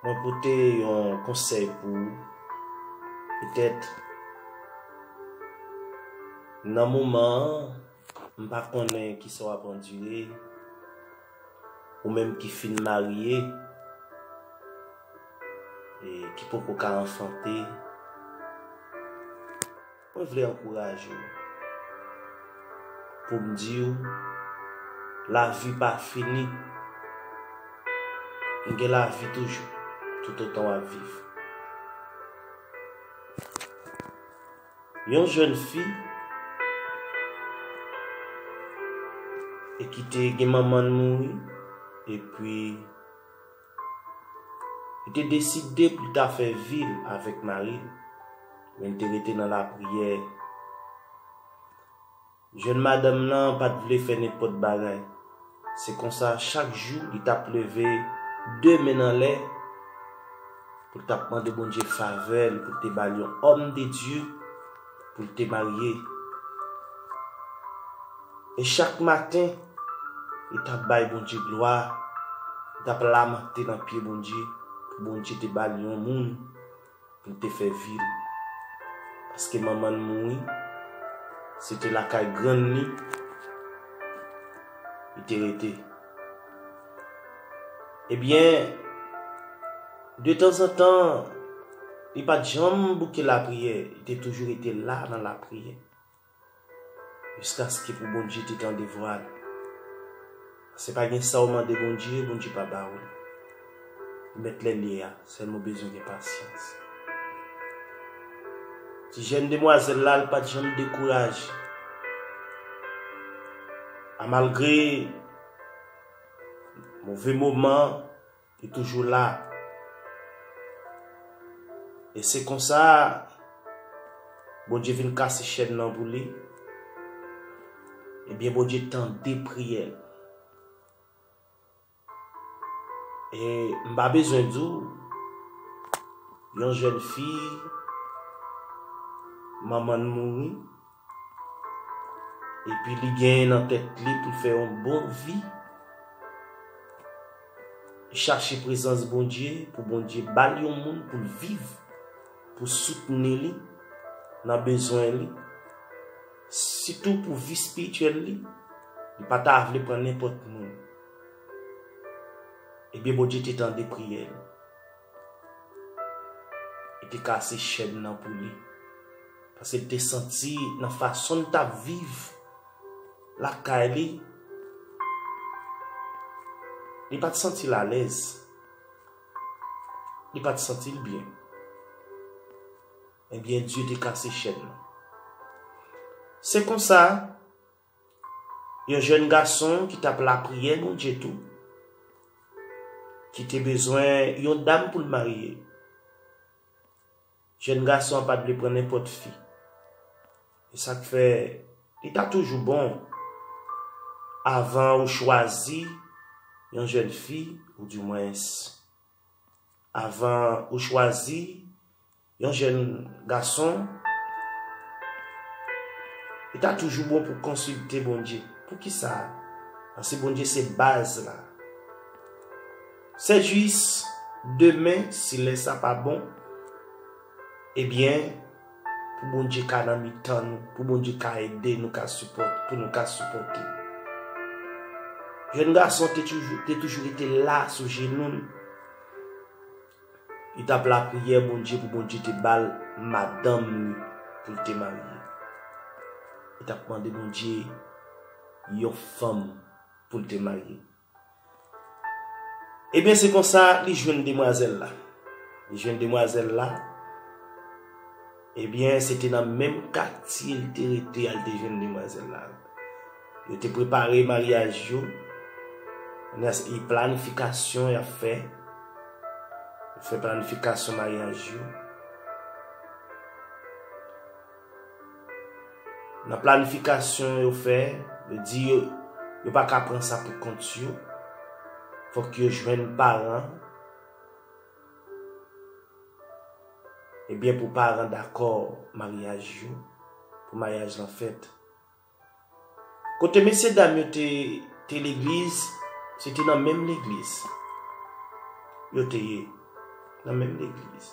Mwen pote yon konsèy pou ou. Petèt nan moman an, m pa konnen ki sa w ap andire, ou menm ki fin marye e ki poko ka anfante. Mwen vle ankouraje w pou m di w lavi pa fini. N gen lavi toujou toutotan w ap viv. Yon jèn fi e ki te gen manman l mouri epi. Li te deside pou l ta fè vi l avèk mari l, men l te rete nan lapriyè. Jèn madanm nan pa t vle fè nenpòt bagay. Se konsa, chak jou li t ap leve de men n anlè pou l t ap mande Bondye favè l pou l te ba l yon òmdedye. pou l te marye. E chak maten, li t ap bay Bondye glwa, li t ap lamante nan pye Bondye pou Bondye te ba l yon moun pou l te fè vi l. Paske manman l mouri, se te lakay grann li li te rete. Ebyen! De tanzantan, li pa t janm bouke lapriyè, li te toujou rete la nan lapriyè, jiskaske pou Bondye te tande vwa l. Pase pa gen sa ou mande Bondye, Bondye pa ba ou l. Li mèt lè l ye a, sèlman ou bezwen gen pasyans. Ti jèn demwazèl la, li pa t janm dekouraje. A malgre move moman, Li toujou la. E se konsa Bondye vin kase chèn nan pou li. Ebyen Bondye tande priyè l. E m pa bezwen di w yon jèn fi manman l mouri. Epi li genyen nan tèt li pou l fè yon bon vi, li chache prezans Bondye, pou Bondye ba l yon moun pou l viv, pou soutni li nan bezwen li, sitou pou vi espirityèl li, li pa ta vle pran nenpòt moun. Ebyen Bondye te tande priyè l. Li te kase chèn nan pou li. Pase li te santi nan fason li tap viv lakay li. Li pat santi l alèz. Li pat santi l byen. Ebyen Dye te kase chèn nan. Se konsa. Yon jèn gason ki tap lapriyè Bondye tou, ki te bezwen yon dam pou l marye. Jèn gason an pat vle pran nenpòt fi. E sa k fè, li ta toujou bon, avan ou chwazi yon jèn fi, ou di mwens, avan ou chwazi Yon jèn gason, Li ta toujou bon pou konsilte Bondye. Poukisa? Paske Bondye se baz la. Sè Jiyis, Demen, si lè sa pa bon, ebyen, pou Bondye ka nan mitan nou, pou Bondye ka ede nou, pou nou ka sipòte. Jèn gason te toujou rete la sou jenou l. Li tap lapriyè Bondye pou Bondye te bal madanm li poul te marye. Li tap mande Bondye yon fanm poul te marye. Ebyen se konsa li jwenn demwazèl la. Li jwenn demwazèl la. Ebyen, se te nan menm katye l te rete a l te jwenn demwazèl la. Yo te prepare maryaj yo. Kounye a, se planifikasyon y ap fè. Yo fè planifikasyon maryaj yo. Nan planifikasyon yo fè, yo di yo, yo pa ka pran sa pou kont yo. Fòk yo jwenn paran. Ebyen pou paran dakò maryaj yo pou maryaj lan fèt. Kote mesye dam yo te te legliz se te nan menm legliz yo te ye nan menm legliz.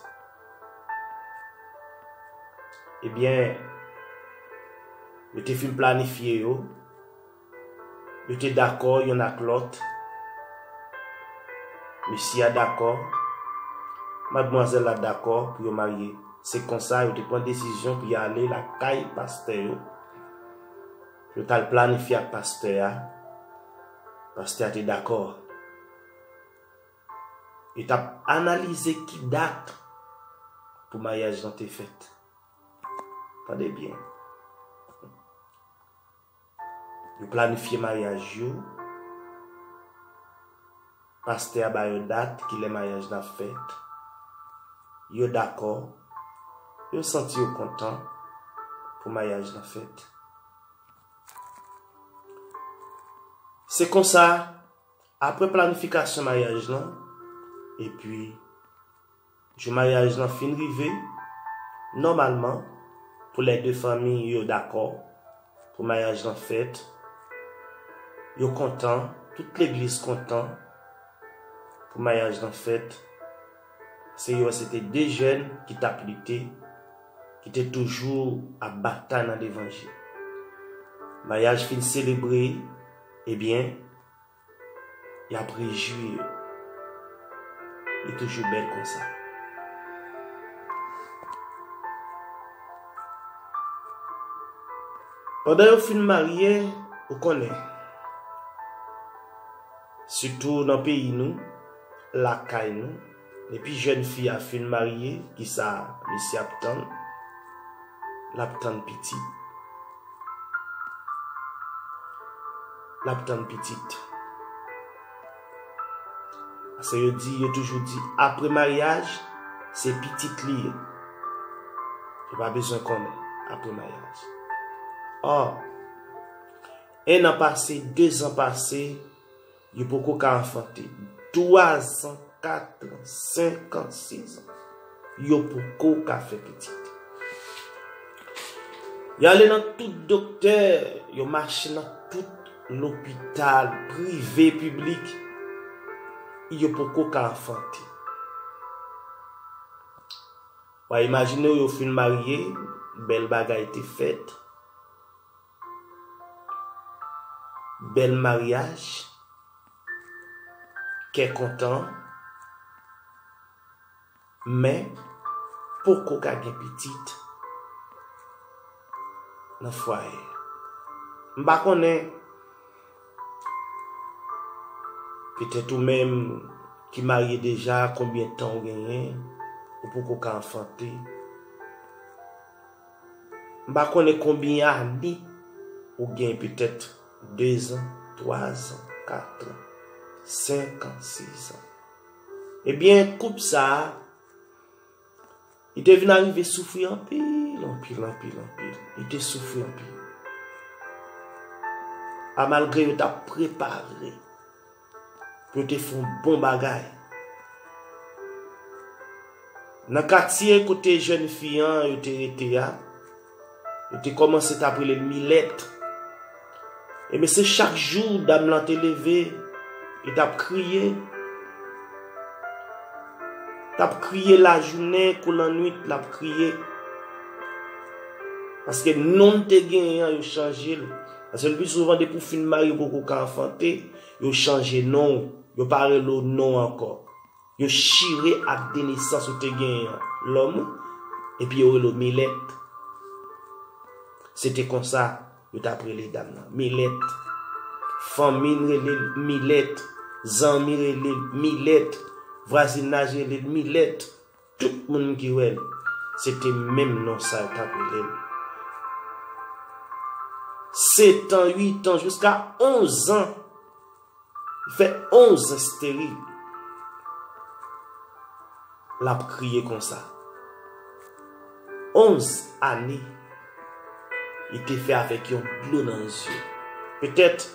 Ebyen yo te fin planifye yo. Yo te dakò yonn ak lòt. Mesye a dakò. Madmwazèl la dakò pou yo marye. Se konsa yo te pran desizyon pou y ale lakay pastè yo. Yo t al planifye ak pastè a. Pastè a te dakò. Yo t ap analize ki dat pou maryaj lan te fèt. Tande byen. Yo planifye maryaj yo, pastè a ba yo dat kilè maryaj la ap fèt, yo dakò, yo santi yo kontan pou maryaj la fèt. Se konsa, apre planifikasyon maryaj lan, epi. Jou maryaj lan fin rive, nòmalman pou lè 2 fanmi yo dakò pou maryaj lan fèt, yo kontan, tout legliz kontan pou maryaj lan fèt, paske yo wè se te 2 jèn ki tap lite, ki te toujou ap batay nan levanjil. Maryaj fin selebre, ebyen, Yap rejwi yo. Li toujou bèl konsa. Pandan yo fin marye, ou konnen. Sitou nan peyi nou, lakay nou. Depi jèn fi a fin marye kisa mesye ap tann lap tann pitit lap tann pitit paske yo di yo toujou di apre maryaj se pitit li yo pa bezwen konnen apre maryaj or 1 an pase 2 zan pase Yo poko ka anfante. 3 zan, 4 an, 5 an, 6 an. Yo poko ka fè pitit. Yo ale nan tout doktè. Yo mache nan tout lopital, prive, piblik. Yo poko ka anfante. Wa imajine w yo fin marye, bèl bagay te fèt. Bèl maryaj, kè kontan, men poko ka gen pitit nan fwaye a. M pa konnen, petèt ou menm ki marye deja konbyen tan ou genyen, ou poko ka anfante. M pa konnen konbyen ane ou gen petèt 2 zan, 3 zan, 4 zan, 5 zan, 6 zan. Ebyen koup sa a, li te vin arive soufri anpil, anpil, anpil, anpil. Li te soufri anpil. A malgre yo ta prepare. Yo te fè yon bon bagay. Nan katye kote jèn fi an yo te rete a, yo te kòmanse t ap rele l Milèt. Enben se chak jou dam lan te leve, li t ap kriye. L ap kriye lajounen kou lannuit l ap kriye. Paske non l te genyen an yo chanje l. Paske le pi souvan depi ou fin marye ou poko ka anfante, yo chanje non ou, yo pa rele ou non ou ankò. Yo chire ak de nesans ou te genyen an, lòm ou, epi yo rele ou Milèt. Se te konsa yo t ap rele dam nan, Milèt. Fanmi n rele l Milèt, zanmi rele l Milèt, vwazinaj rele l Milèt. Tout moun ki wè l, se te menm non sa yo t ap rele l. Setan, uitan, jiska onzan, li fè onz esteril, l ap kriye konsa. Onz ane, li te fè avèk yon dlo nan je. Petèt.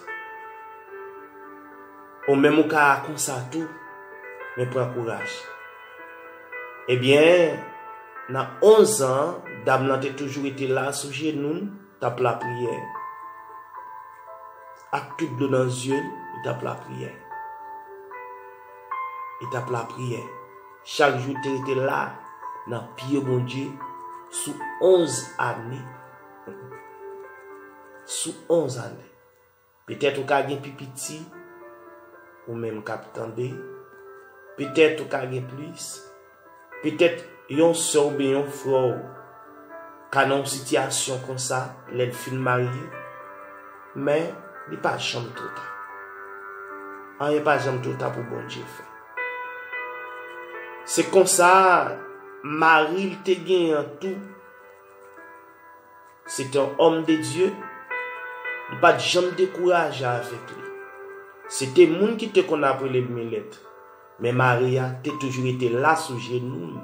Ou menm ou ka konsa tou men pran kouraj. Ebyen nan 11 zan dam lan te toujou rete la sou jenou l tap lapriyè. Ak tout dlo nan zye l li tap lapriyè. Li tap lapriyè. Chak jou li te rete la nan pye Bondye sou 11 ane. Sou 11 ane. Petèt ou ka gen pi piti, ou menm k ap tande, petèt ou ka gen plis, petèt yon sè w oubyen yon frè w ka nan yon sitiyasyon konsa lè l fin marye, men li pa janm twò ta. Anyen pa janm twò ta pou Bondye fè. Se konsa mari l te genyen an tou. Se te yon òm de Dye, li pa t janm dekouraje avèk li. Se te moun ki te konn ap rele l Milèt, men Maria te toujou rete la sou jenou l,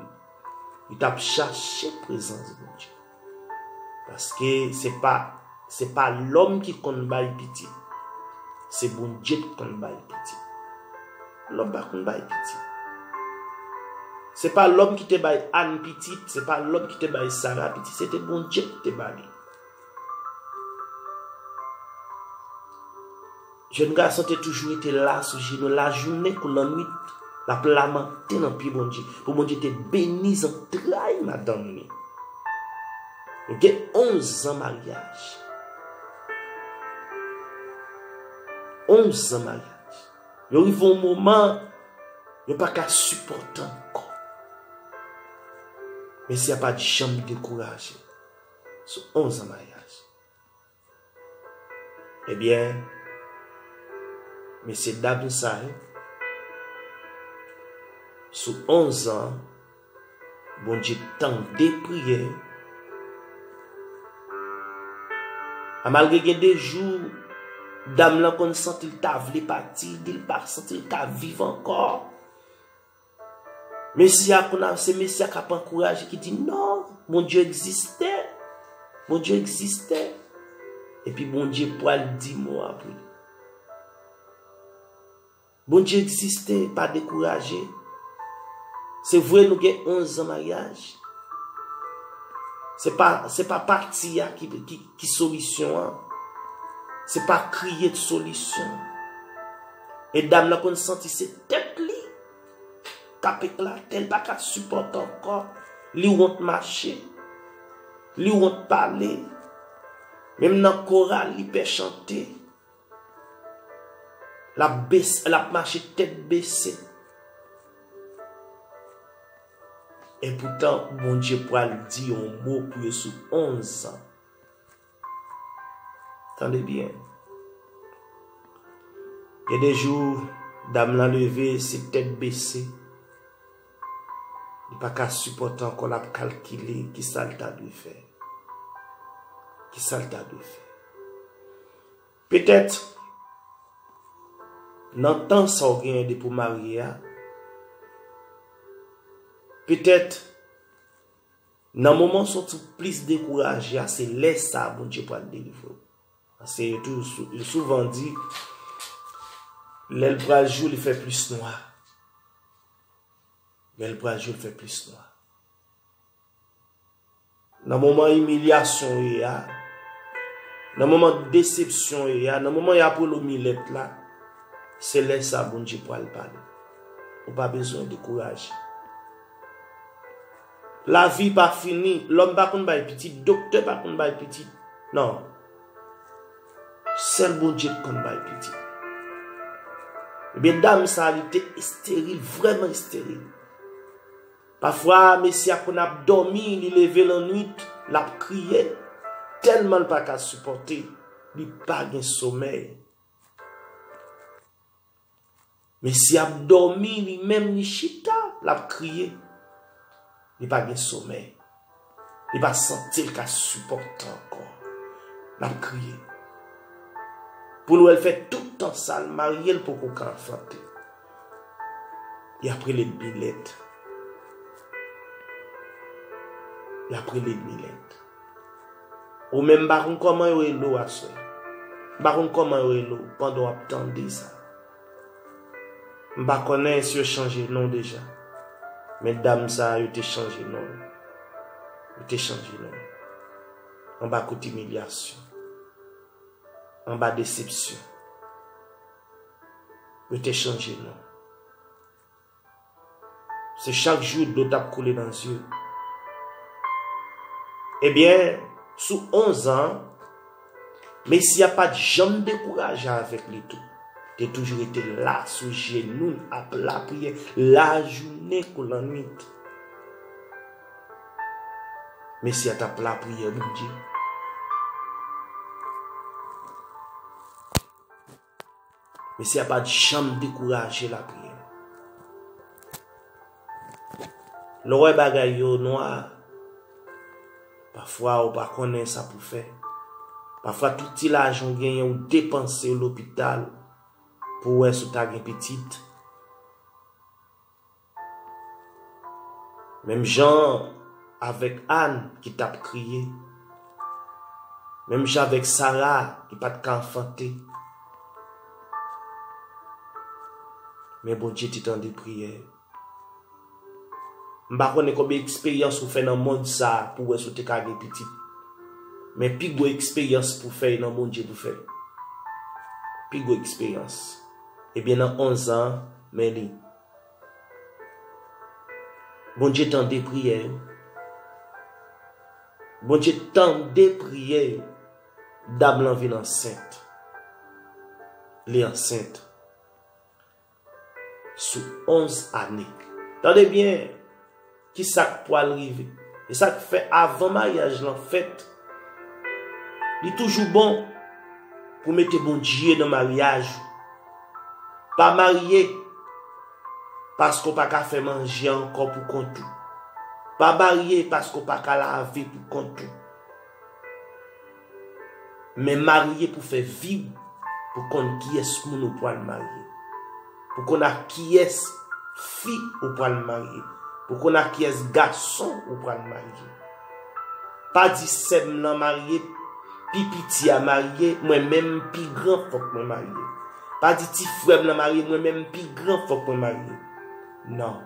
li t ap chache prezans Bondye. Paske se pa se pa lòm ki konn bay pitit, se Bondye k konn bay pitit. Lòm pa konn bay pitit. Se pa lòm ki te bay Anne pitit, se pa lòm ki te bay Sarah pitit, se te Bondye ki te ba li. Jèn gason te toujou rete la sou jenou l lajounen kou lannwit, l ap lamante nan pye Bondye, pou Bondye te beni zantray madanm li. Yo gen onzan maryaj. Onzan maryaj. Yo rive yon moman, yo pa ka sipòte ankò. Men si a pa janm dekouraje sou 11 an maryaj. Ebyen, mesye dam sa yo, sou 11 an, Bondye tande priyè yo. A malgre gen de jou dam lan konn santi l ta vle pati, li di l pa santi l ka viv ankò. Mesye a konn se mesye a k ap ankouraje ki di non, Bondye egziste. Bondye egziste. Epi Bondye pral di mo a pou li. Bondye egziste pa dekouraje. Se vre nou gen 11 zan maryaj. Se pa pati a ki solisyon an. Se pa kriye ki solisyon an. E dam nan konn santi se tèt li k ap eklate, li pa ka sipòte ankò. Li wont mache, li wont pale. Menm nan koral li pè chante. Lap mache tèt bese. E poutan Bondye pral di yon mo pou yo sou 11 zan. Tande byen. Gen de jou dam lan leve se tèt bese. Li pa ka sipòte ankò lap kalkile ki sa l ta dwe fè. Ki sa l ta dwe fè. Petèt, nan tan sa w genyen depi w marye a, petèt, nan moman w santi w plis dekouraje a, se lè sa a Bondye pral delivre w. Paske yo toujou, yo souvan di, lè l pral jou, li fè plis nwa. Lè l pral jou, li fè plis nwa. Nan moman imilyasyon w ye a, nan moman desepsyon w ye a, nan moman y ap wè l ou milèt la, se lè sa a Bondye pral pale. Ou pa bezwen dekouraje. Lavi pa fini. Lòm pa konn bay pitit. Doktè pa konn bay pitit. Non. Sèl Bondye ki konn bay pitit. Ebyen dam sa li te esteril, vrèman esteril. Pafwa mesye a konn ap dòmi li leve lannwit lap kriye tèlman l pa ka sipòte li pa gen somèy. Mesye ap dòmi li menm li chita lap kriye li pa gen somèy. Li pa santi l ka sipòte ankò. L ap kriye. Pou l wè l fè tout tan sa l marye l poko ka anfante. Li ap rele Milèt. Li ap rele Milèt. Ou menm m pa konn kòman yo rele w aswè. M pa konn kòman yo rele w pandan w ap tande sa. M pa konnen si yo chanje non deja. Men dam sa yo te chanje non. Yo te chanje non. Anba kout imilyasyon. Anba desepsyon. Yo te chanje non. Se chak jou dlo tap koule nan zye. Ebyen, sou 11 an, Messi a pat janm dekouraje avèk li tou. Te toujou rete la sou jenou l ap lapriyè lajounen kou lannwit. Messi a tap lapriyè Bondye. Mesye a pa t janm dekouraje lapriyè. Lè w wè bagay yo nwa, pafwa ou pa konnen sa pou fè. Pafwa tout ti lajan ou genyen ou depanse yo lopital pou wè si w ta gen pitit. Menm jan avèk Àn ki t ap kriye. Menm jan avèk Sara ki pa t ka anfante. Men Bondye te tande priyè yo. M pa konnen konbyen eksperyans ou fè nan mond sa pou wè si w te ka gen pitit. Men pi gwo eksperyans pou fè e nan Bondye pou fè. Pi gwo eksperyans. Ebyen nan onzan an, men li. Bondye tande priyè yo. Bondye tande priyè yo. Dam lan vin ansent. Li ansent. Sou 11 ane. Tande byen. Ki sa k pwal rive? E sa k fè avan maryaj lan fèt, li toujou bon pou w mete Bondye nan maryaj ou. Pa marye paske w pa ka fè manje ankò pou kont ou. Pa marye paske w pa ka lave pou kont ou. Men marye pou fè vi w pou konn kiyès moun ou pwal marye. Pou konn ak kiyès fi ou pwal marye. Pou konn ak kiyès gason ou pwal marye. Pa di sè m lan marye, pi piti a marye, mwen menm m pi gran fòk mwen marye. Pa di ti frè m lan marye, mwen menm m pi gran fòk mwen marye. Non,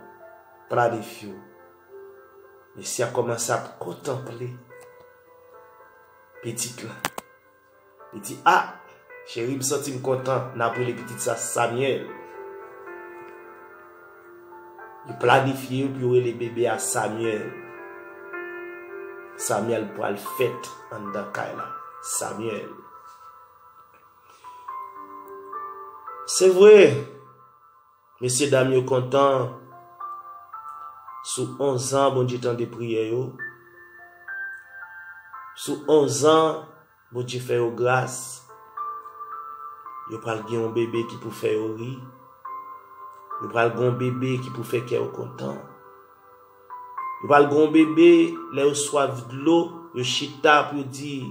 planifiye w. Mesye a kòmanse ap kontanple. Pitit lan. Li di, A! Cheri, m santi m kontan. N ap rele pitit sa Samyèl. Yo planifye yo pou yo rele bebe a Samyèl. Samyèl pral fèt anndan kay la. Samyèl. Se vre, Mesye dam yo kontan sou onzan Bondye tande priyè yo, sou onzan Bondye fè yo gras, yo pral gen yon bebe ki pou fè yo ri, yo pral gen yon bebe ki pou fè kè yo kontan, yo pral gen yon bebe lè yo swaf dlo yo chita pou yo di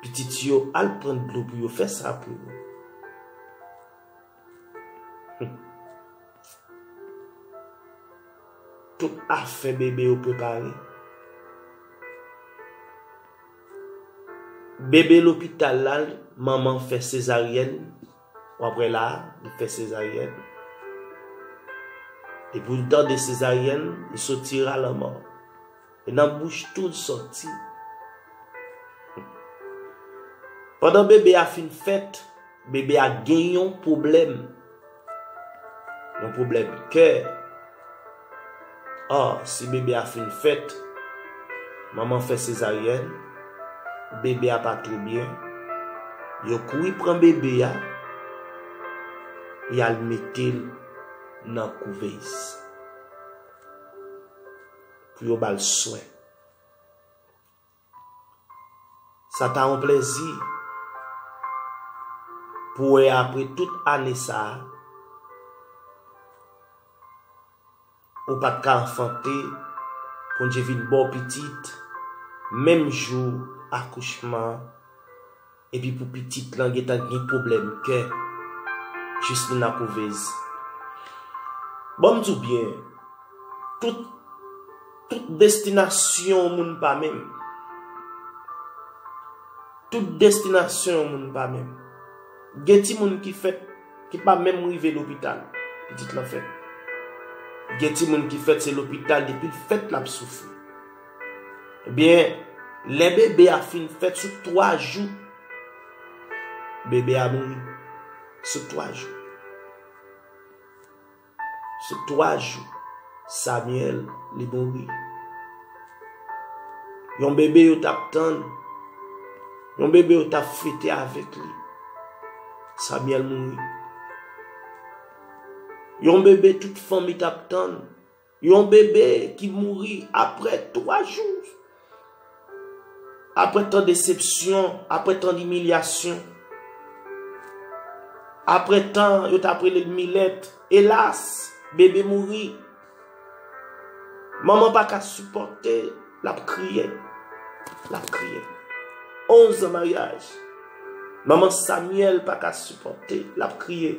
pitit yo al pran dlo pou yo fè sa pou yo. Tout afè bebe yo prepare. Bebe lopital la, manman fè sezaryèn, w ap wè la, li fè sezaryèn. Depi w tande sezaryèn, li soti ralanman. E nan bouch tou l sòti. Pandan bebe a fin fèt, bebe a gen yon pwoblèm. Yon pwoblèm kè. Ò, si bebe a fin fèt, manman fè sezaryèn, bebe a pa twò byen, yo kouri pran bebe a, y al mete l nan kouvez. pou yo ba l swen. Sa ta yon plezi pou wè apre tout ane sa a, ou pa t ka anfante, Bondye vin ba w pitit menm jou akouchman an. Epi pou pitit lan gentan gen pwoblèm kè jis li nan kouvez. Bon m di w byen, tout tout destinasyon yon moun pa menm. Tout destinasyon yon moun pa menm. Gen timoun ki fèt ki pa menm rive lopital pitit lan fèt. Gen timoun ki fèt se lopital depi l fèt l ap soufri. Ebyen, lè bebe a fin fèt sou 3 jou, bebe a mouri. Sou 3 jou. Sou 3 jou, Samuel li mouri. Yon bebe yo tap tann, yon bebe yo tap fete avèk li, Samuel mouri. Yon bebe tout fanmi tap tann. Yon bebe ki mouri apre 3 jou. Apre tan desepsyon, apre tan imilyasyon. Apre tan yo tap rele l milèt. Elas, bebe mouri. Manman pa ka sipòte, lap kriye. Lap kriye. 11 an maryaj. Manman Samyèl pa ka sipòte, lap kriye.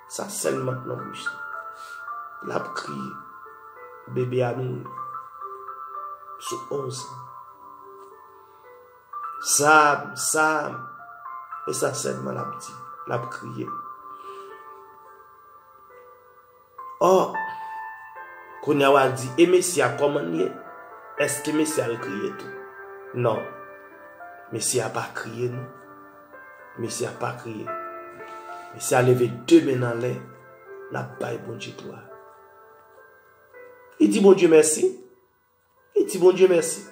Sa sèl mant nan bouch li. Lap kriye. Bebe a mouri. Sou 11 an. Sam, Sam. E sa sèlman lap di. Lap kriye. Oh! Kounya wal di, e mesye a kòman li ye? Eske mesye al kriye tou? Non. Mesye a pa kriye non. Mesye a pa kriye. Mesye a leve 2 men n anlè, l ap bay Bondye glwa. Li di Bondye mèsi. Li di Bondye mèsi.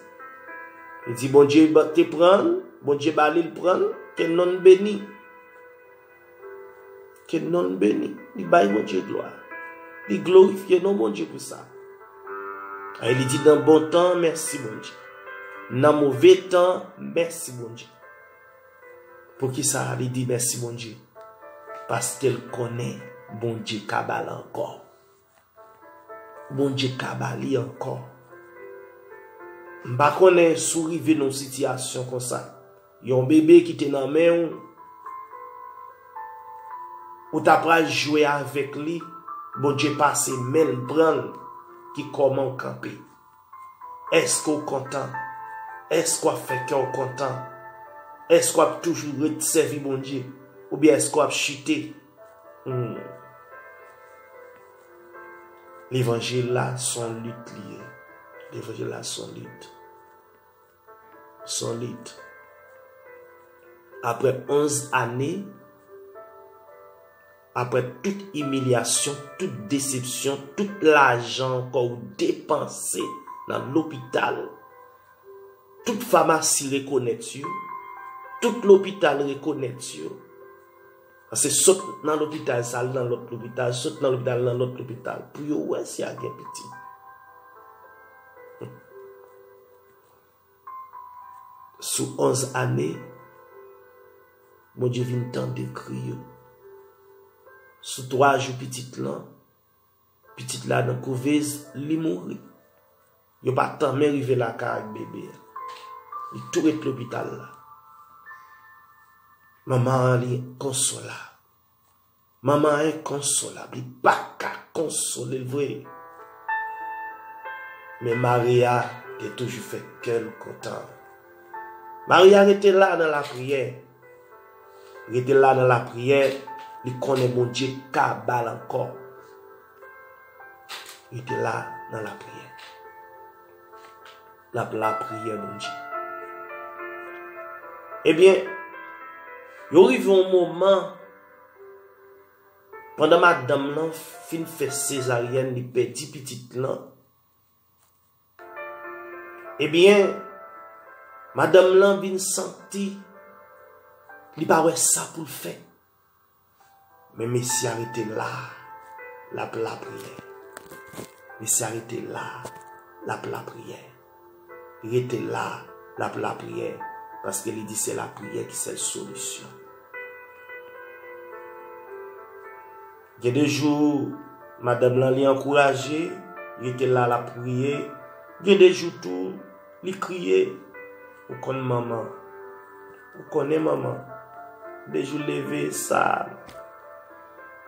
Li di Bondye te pran l, Bondye ba li l pran l, ke non l beni. Ke non l beni. Li bay Bondye glwa. Li glorifye non Bondye pou sa. E li di nan bon tan, mèsi Bondye. Nan move tan, mèsi Bondye. Poukisa li di mèsi Bondye? Paske l konnen Bondye ka ba l ankò. Bondye ka ba li ankò. M pa konnen si w rive nan yon sitiyasyon konsa. Yon bebe ki te nan men w, ou ta pral jwe avèk li, Bondye pase men l pran l, ki kòman w kanpe? Èske w kontan? Èske w ap fè kè w kontan? Èske w ap toujou ret sèvi Bondye oubyen èske w ap chite? Humm. Levanjil la son lit li ye. Levanjil la son lit. Solid. Aprè 11 ane, aprè tout imilyasyon, tout desepsyon, tout lajan ankò ou depanse nan lopital, tout famasi rekonèt yo, tout lopital rekonèt yo, pase sot nan lopital sa al nan lòt lopital, sot nan lopital al nan lòt lopital, pou yo wè si a gen pitit. Sou 11 ane, Bondye vin tande kri yo. Sou 3 jou pitit lan, pitit la nan kouvez, li mouri. Yo pa tanmen rive lakay ak bebe a. Li tou ret lopital la. Manman an li enkonsolab. Manman an enkonsolab, li pa ka konsole l vre. Men Maria te toujou fè kè l kontan. Maria rete la nan lapriyè. Rete la nan lapriyè, li konnen Bondye ka ba l ankò. Rete la nan lapriyè. L ap lapriyè Bondye. Ebyen, yo rive yon moman. Pandan madanm lan fin fè sezaryèn li pèdi pitit lan, ebyen madanm lan vin santi li pa wè sa pou l fè. Men mesye a rete la, l ap lapriyè. Mesye a rete la, l ap lapriyè. rete la lap lapriyè paske li di se lapriyè ki sèl solisyon gen de jou madanm lan li ankouraje rete la lap priye gen de jou tou li kriye ou konn manman ou konnen manman de jou leve sa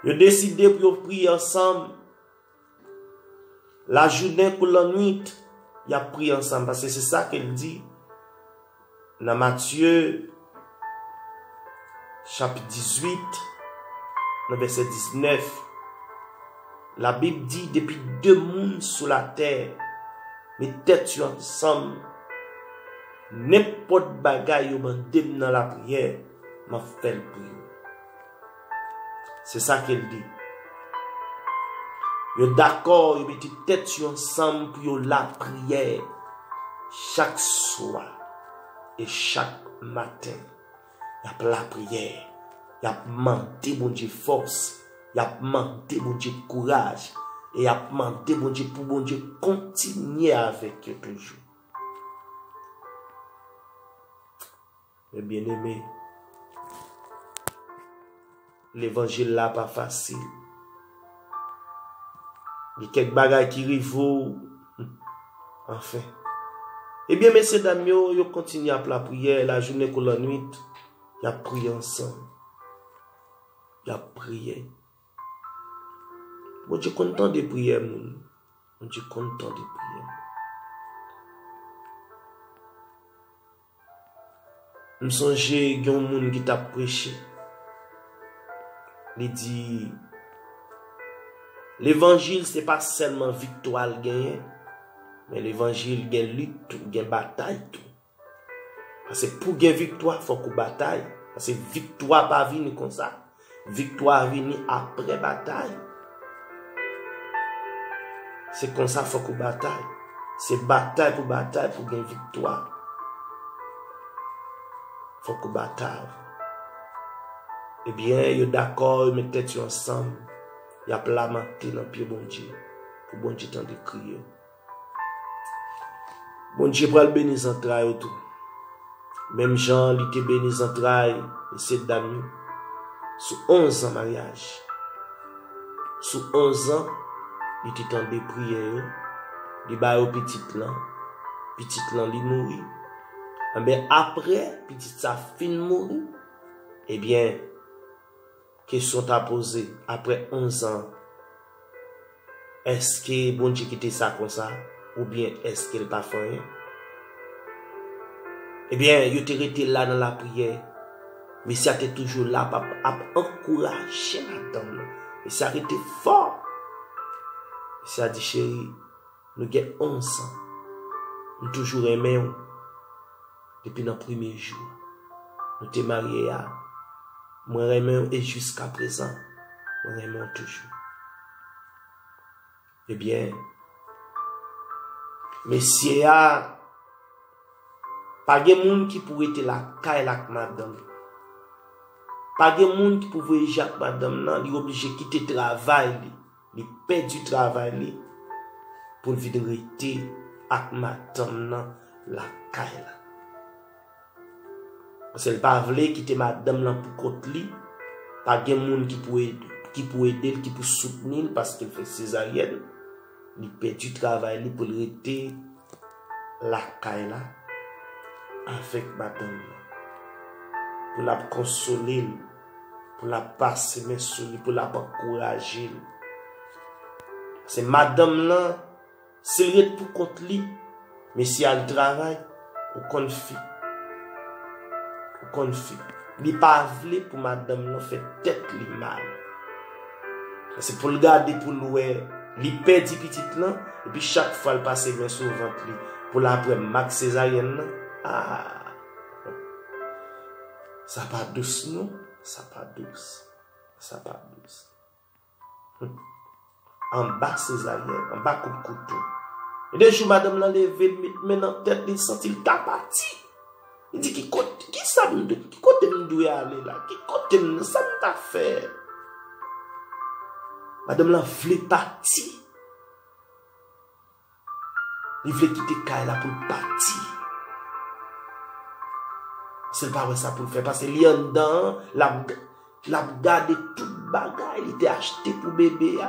yo deside pou yo priye ansanm. Lajounen kou lannwit, y ap priye ansanm, paske se sa ke l di nan Matye chapit 18, nan vèsè 19. Labib di, depi de moun sou latè met tèt yo ansanm, nenpòt bagay yo mande m nan lapriyè, m ap fè l pou yo. Se sa ke l di. Yo dakò, yo mete tèt yo ansanm pou yo lapriyè chak swa e chak maten. Y ap lapriyè, y ap mande Bondye fòs, y ap mande Bondye kouraj e y ap mande Bondye pou Bondye kontinye avèk yo toujou. Men byeneme, levanjil la pa fasil. Gen kèk bagay ki rive w, anfen. Ebyen mesye dam yo, yo kontinye ap lapriyè, lajounen kou lannuit, y ap priye ansanm. Y ap priye. Bondye konn tande priyè moun. Bondye konn tande priyè moun. M sonje gen yon moun ki t ap preche, li di, Levanjil se pa sèlman viktwa l genyen, men levanjil gen lit tou, gen batay tou. Pase pou gen viktwa fòk ou batay, pase viktwa pa vini konsa. Viktwa vini apre batay. Se konsa fok ou batay. Se batay pou batay pou gen viktwa. Fok ou batay. Ebyen eh yo dakò yo met tèt yo ansanm. Yap lamante nan pye Bondye. Pou Bondye tande kri yo. Bondye pral beni zantray ou tou. Menm jan li te beni zantray mesye dam yo sou 11 zan maryaj. Sou 11 zan li te tande priyè yo, li ba yo pitit lan, pitit lan li mouri. Anben apre pitit sa fin mouri, ebyen. Kesyon ta poze, aprè 11 an, èske Bondye kite sa konsa oubyen èske l pa fè anyen? Ebyen, yo te rete la nan lapriyè. Mesye a te toujou la ap ankouraje madanm nan. Mesye a rete fò. Mesye a di, Cheri, nou gen 11 an. M toujou renmen ou. depi nan premye jou nou te marye a, mwen renmenw e jiska prezan mwen renmenw toujou. Ebyen, mesye a pa gen moun ki pou rete lakay la ak madanm li. Pa gen moun ki pou vweje ak madanm nan, li oblije kite travay li. Li pèdi travay li pou l vin rete ak madanm nan lakay la. Paske l pa vle kite madanm lan pou kont li, pa gen moun ki pou ede l, ki pou soutni l paske l fè sezaryèn. Li pèdi travay li pou l rete lakay la avèk madanm nan. Pou l ap konsole l. pou l ap pase men sou li, pou l ap ankouraje l. Pase madanm lan, si l ret pou kont li, mesye al travay, ou konn fi. Ou konn fi. Li pa vle pou madanm lan fè tèt li mal. Se pou l gade pou l wè, li pèdi pitit lan, epi chak fwa l pase men sou vant li, pou l ap wè mak sezaryèn lan, aa. Sa pa dous non, sa pa dous, sa pa dous. Anba sezaryèn, anba kout kouto. E de jou madanm lan leve, li met men nan tèt li, li santi li ta pati. Li di ki kote, ki sa m dwe, ki kote m dwe ale la, ki kote m, sa m ta fè. Madanm lan vle pati. Li vle kite kay la poul pati. Sel pa wè sa poul fè pase li anndan an lap gade tout bagay li te achte pou bebe a.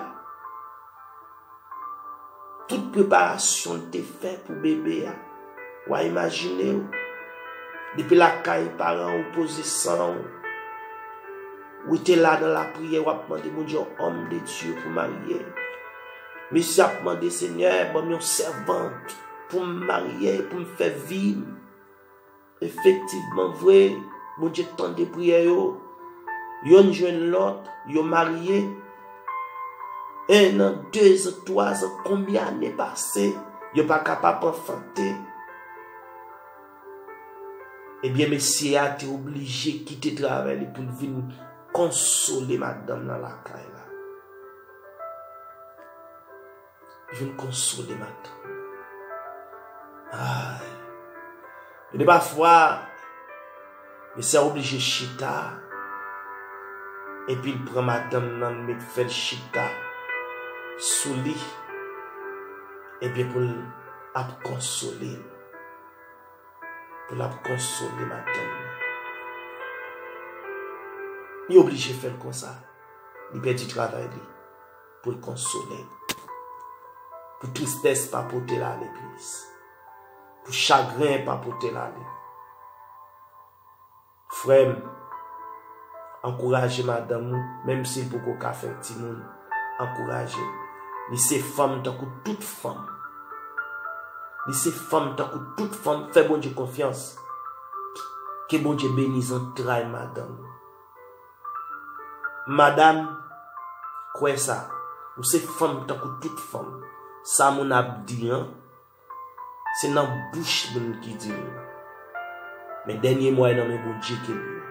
Tout preparasyon li te fè pou bebe a. Wa imajine ou. Depi la kay paran ou poze san ou. Ou te la nan la priye wap mande moun diyon om de diyo pou marye. Mesye ap mande senyè banm yon sèvant poum marye poum fè vim efektivman vre Bondye tande priyè yo yonn jwenn lòt yo marye 1 an 2 zan 3 zan konbyen ane pase yo paka pa panfante ebyen mesye a te oblije kite travay li poul vin konsole madanm nan lakay la. Vin konsole m ak tan. Ay. Gen de pafwa, mesye a oblije chita, epi l pran madanm nan met fè l chita sou li, epi pou l ap konsole l. Pou l ap konsole madanm nan. Li oblije fè l konsa. Li pèdi travay li pou l konsole m. Pou tristès pa pote l ale plis. Pou chagren pa pote l ale. Frè m, ankouraje madanm ou, menm si l poko ka fè timoun, ankouraje l. Li se fanm tankou tout fanm. Li se fanm tankou tout fanm, fè Bondye konfyans. Ke Bondye beni zantray madanm ou. Madam kwè sa ou se fanm tankou tout fanm sa moun ap di an se nan bouch moun ki di l men dènye mo a e nan men Bondye ke l ye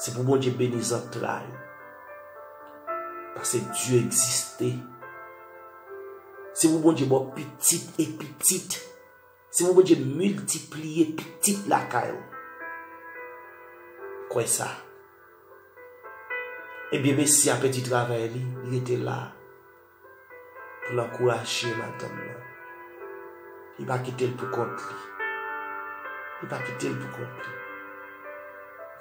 se pou Bondye beni zantray ou pase Dye egziste se pou Bondye ba w pitit e pitit. Senyè Bondye miltipliye pitit lakay ou. Kwè sa. Ebyen mesye a pèdi travay li, li rete la pou l ankouraje madanm nan. Li pa kite l pou kont li. Li pa kite l pou kont li.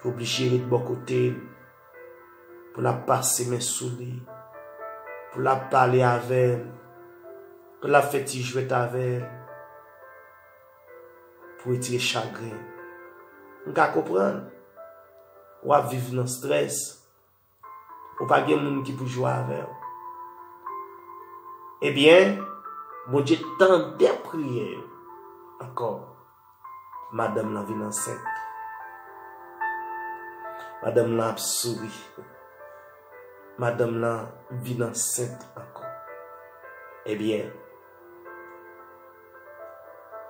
Li oblije ret bò kote l. pou l ap pase men sou li, pou l ap pale avè l, pou l ap fè ti jwèt avè l, pou retire chagren. M ka konprann, w ap viv nan strès, ou pa gen moun ki pou jwe avè w. Ebyen, Bondye tande priyè yo ankò. Madanm lan vin ansent. Madanm lan ap souri. Madanm lan vin ansent ankò. Ebyen,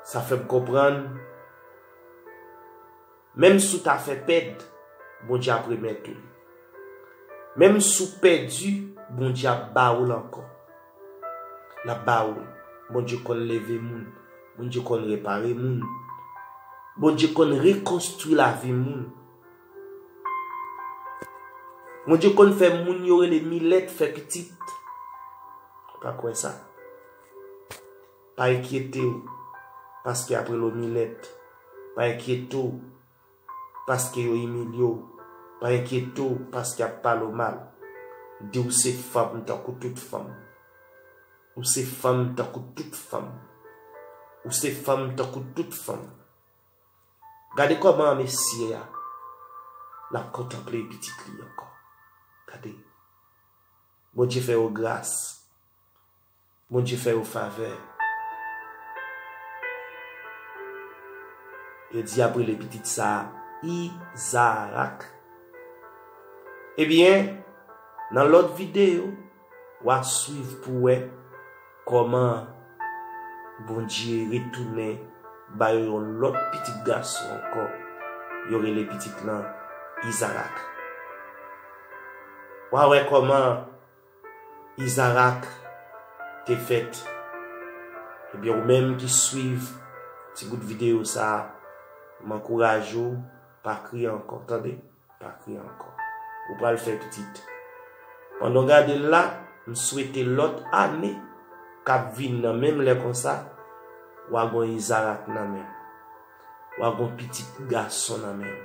sa fè m konprann. Menm si w ta fè pèd, Bondye ap remèt ou li. Menm si w pèdi, Bondye ap ba ou l ankò. L ap ba ou l. Bondye konn leve moun. Bondye konn repare moun. Bondye konn rekonstwi lavi moun. Bondye konn fè moun yo rele milèt fè pitit. Ou pa kwè sa? Pa enkyete w paske y ap rele w milèt. Pa enkyete w paske yo imilye w. Pa enkyete w paske y ap pale w mal. Di w se fanm tankou tout fanm. Ou se fanm tankou tout fanm. Ou se fanm tankou tout fanm. Gade kòman mesye a l ap kontanple pitit li ankò. Gade. Bondye fè yo gras. Bondye fè yo favè. Yo di y ap rele pitit sa a Izarak. Ebyen, nan lòt videyo, w a suiv pou w wè kòman Bondye retounen ba yo yon lòt pitit gason ankò. Yo rele pitit lan Izarak. W a wè kòman. Izarak te fèt. Ebyen ou menm ki swiv ti bout videyo sa, m ankouraje w pa kriye ankò tande, pa kriye ankò. Ou pral fè pitit. Pandan w gade l la, m swete lòt ane k ap vini nan menm lè konsa, wa gon Izarak nan men w. Wa gon pitit gason nan men w.